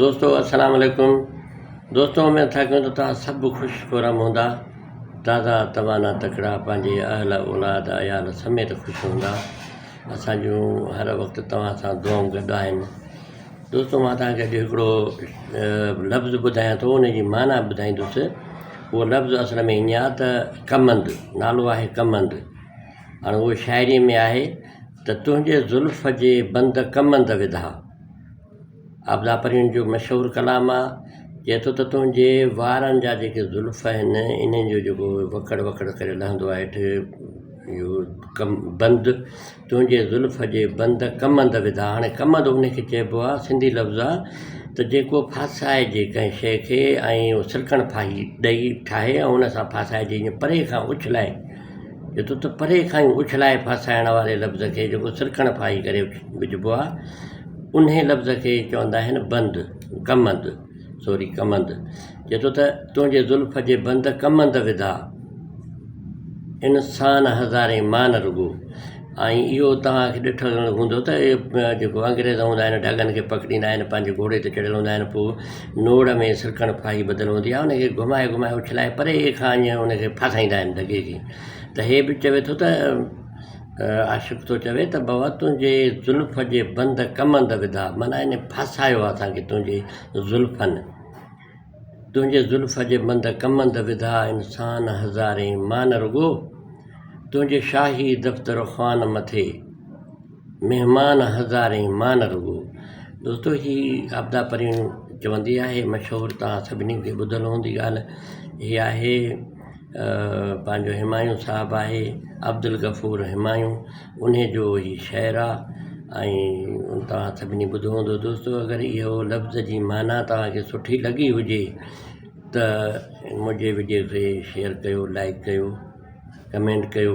دوستو السلام عليڪم دوستو اميد ٿا ڪيون ته توهان سڀ خوش خورم هوندا تازا توانا تڪڙا پنهنجي اهل اولاد عيال سميت خوش هوندا اسان جون هر وقت توهان سان دعائون گڏ آهن دوستو مان توهان کي اڄ هڪڙو لفظ ٻڌايان ٿو ان جي معنيٰ ٻڌائيندس اهو لفظ اصل ۾ ائين آهي ته ڪمند نالو آهي ڪمند هاڻي اهو شاعري ۾ آهي ته تنهنجي زلف جي بند ڪمند وڌا عابده پرين جو مشهور ڪلام آ، چئي ٿو ته تنهنجي وارن جا جيڪي زلف آهن انهن جو جيڪو وڪڙ وڪڙ ڪري لهندو آ هيٺ اهو ڪم بند تنهنجي زلف جي بند ڪمند وڌا هاڻي ڪمند ان کي چئبو آ سنڌي لفظ آ ته جيڪو ڦاسائجي ڪنهن شيء کي ۽ سلڪڻ ڦاهي ڏئي ٺاهي ۽ ان سان ڦاسائجي ائين پري کان اڇلائي جتو ته پري کان ئي اڇلائي ڦاسائڻ واري لفظ کي جيڪو سرڪڻ ڦاهي ڪري وجهبو آهي، انهي لفظ کي چوندا آهن بند، ڪمند، سوري ڪمند، جتو ته تنهنجي زلف جي بند ڪمند وڌا، ان سان هزارين مان رڳو ۽ اهو توهان کي ڏٺل هوندو ته جيڪو انگريز هوندا آهن ڍڳن کي پڪڙيندا آهن پنهنجي گهوڙي تي چڙهيل هوندا آهن پوء نوڙ ۾ سرڪڻ ڦاهي ٻڌل هوندي آهي، ان کي گهمائي گهمائي اڇلائي پري کان ائين ان کي ڦاسائيندا آهن ڌڳي کي ته هي به چوي ٿو ته عاشق ٿو چوي ته بابا تنهنجي زلف جي بند ڪمند وڌا معنيٰ ان ڦاسايو آهي اسان کي تنهنجي زلفن تنهنجي زلف جي بند ڪمند وڌا انسان هزارين مان رڳو تنهنجي شاهي دفتر خوان مٿي مهمان هزارين مان نه رڳو. دوستو هي آبدا پرين چوندي آهي مشهور توهان سڀني کي ٻڌل هوندي ڳالهه هي آهي پنهنجو همايون صاحب آهي عبدالغفور همايون انهي جو هي شعر آ ۽ توهان سڀني ٻڌو هوندو دوستو اگر اهو لفظ جي معنيٰ توهانکي سٺي لڳي هجي ته منهنجي وڊيو کي شيئر ڪيو لائڪ ڪيو ڪمينٽ ڪيو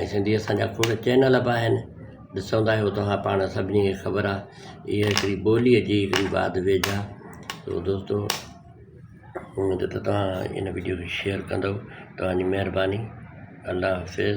۽ سنڌي اسان جا کوڙ چينل به آهن ڏسو تاهي هو توهان پاڻ سڀني کي خبر آهي اهي هڪڙي ٻولي جي هڪڙي واڌ ويجها سو دوستو اميد ته توهان ان وڊيو کي شيئر ڪندو توهان جي مهرباني الله حافظ